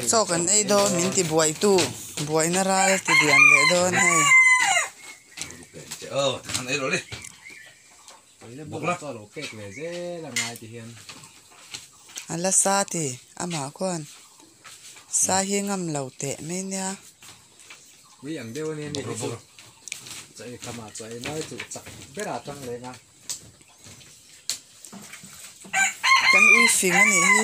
Chawk an ei dawn min ti buaitu buaina ral ti lian leh dawn hei. A la sa ti amah khuan sa hi ngam lo teh mai nia. Kan ulfing a nih hi.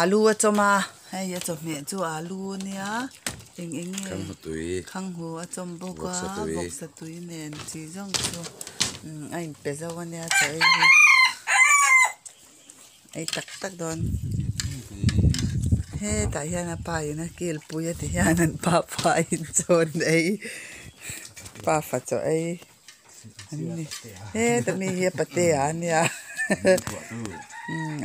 Alu a chawm a, hei a chawhmeh chu alu a nia, eng eng nge, khanghu tui, khanghu a chawm bawk a, bawksa tui, bawksa tui nen chi zawng chu a in pe zauh a nia chawh ei hi, ei tak tak dawn, hetah hian a pa in a kilpui a ti hian an pa fa in chuan ei, pa fa chawh ei. he tami hi a pate ah a nia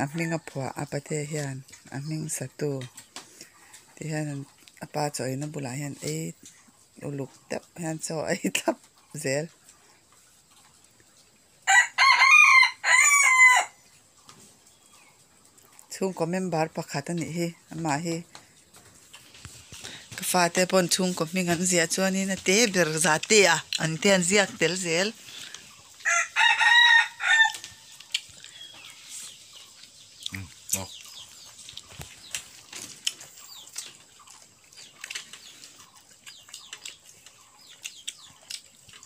a hming a phuah a pate hian a hming satu tih hian an a pa chawihna bulah hian ei uluk deuh hian chaw a ei thlap zel. Chhungkaw member pakhat a nih hi amah hi. Ka fate pawn chhungkaw hming an ziah chuanin a te ber zate a, an te an ziak tel zel.